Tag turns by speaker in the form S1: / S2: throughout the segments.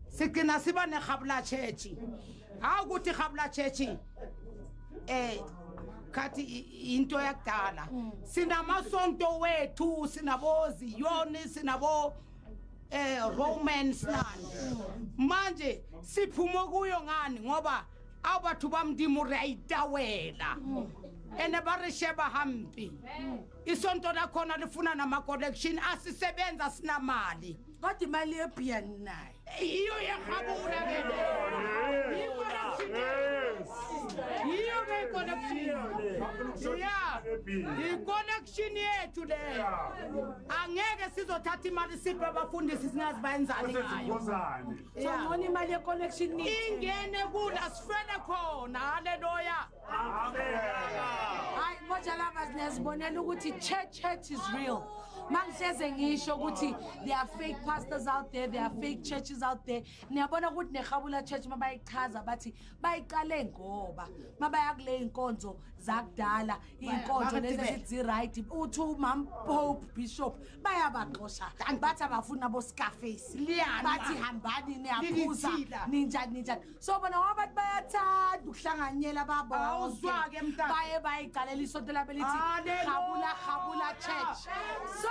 S1: sigcina siba nehabula chechi hawu ukuthi habula chechi eh khathi into yakudala mm. sinamasonto wethu sinabozi yoni sinabo eh romance nani mm. manje siphuma kuyo ngani ngoba a batho ba modimo re a itawela ene ba re sheba hampe isonto lakhona lifuna nama-collection asisebenza sinamali kodwa imali
S2: yebhiya ninayo yiyo yehabula
S1: yiyo ke iconnection yethu leyo angeke sizothatha imali siphe abafundisi singazi bayenzani ngayoona
S2: imali yeconnection ingene kula
S1: sifele khona haleluya
S3: hayi
S2: moja lovers niyazibonela ukuthi church church is real mangihleze ngisho ukuthi there are fake pastors out there there are fake churches out there niyabona ukuthi nerhabula church uma bayichaza bathi bayiqale ngoba uma baya kule iy'nkonzo zakudala iy'nkonzo lezi ezithi zi-right uthi umam pope bishop bayabaxosha bathi abafuni aboscarface bathi hambani niyaphuza ninjani ninjani so bona ngoba bathi bayathanda ukuhlanganyela babawuzwake mntana baye bayigalela isonto labo lithi ah, habula habula church so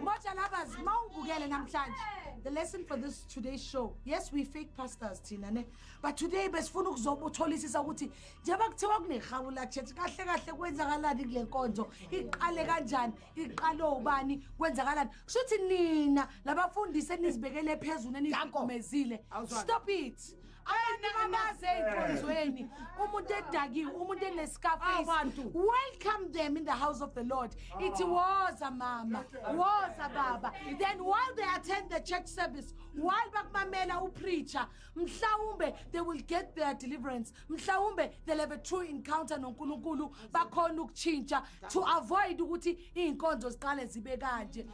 S2: moja lovers mawubukele namhlanje the lesson for this today's show yes we fake pastors thina ne but today besifuna ukuzobutholisisa ukuthi njengoba kuthiwa kunehabula church kahle kahle kwenzakalani kule nkonzo iqale kanjani iqale ubani kwenzakalani kusho ukuthi nina labafundisi enizibekele phezulu enizigumezile stop it abantu bamaze enkonzweni umuntu edakiwe umuntu enescarface welcome them in the house of the lord ithi woza mama woza baba then while they attend the church service while bakumamela upreacher mhlawumbe they will get their deliverance mhlawumbe they have a true encounter noNkulunkulu bakhona ukutshintsha to avoid ukuthi izinkonzo ziqale zibe kanje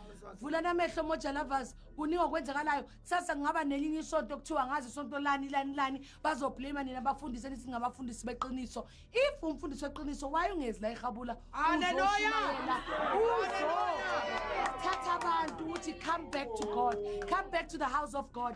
S2: vula namehlo moja lovers kuningi okwenzakalayo kusasa kungaba nelinye isonto kuthiwa ngazi isonto lani lani lani bazoblame nina bafundise nithi ngabafundisi beqiniso if umfundisi weqiniso why ungezi la ehabula uzoshumayela
S1: uzothatha
S2: abantu ukuthi come back to god come back to the house of god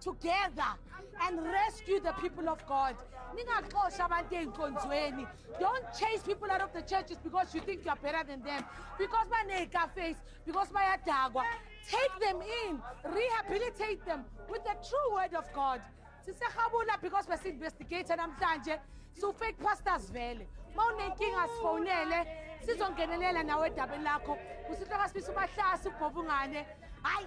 S2: together and rescue the people of God. Ningaxosha abantu ezinkonzweni. Don't chase people out of the churches because you think you are better than them. Because baneka face, because bayadakwa. Take them in, rehabilitate them with the true word of God. Sisehabula because we're investigating namhlanje. So fake pastors vele. Mawunenkinga sifonele sizongenelela nawe edabeni lakho. Usithoka sibisa umahlasi ubhovungane. Hayi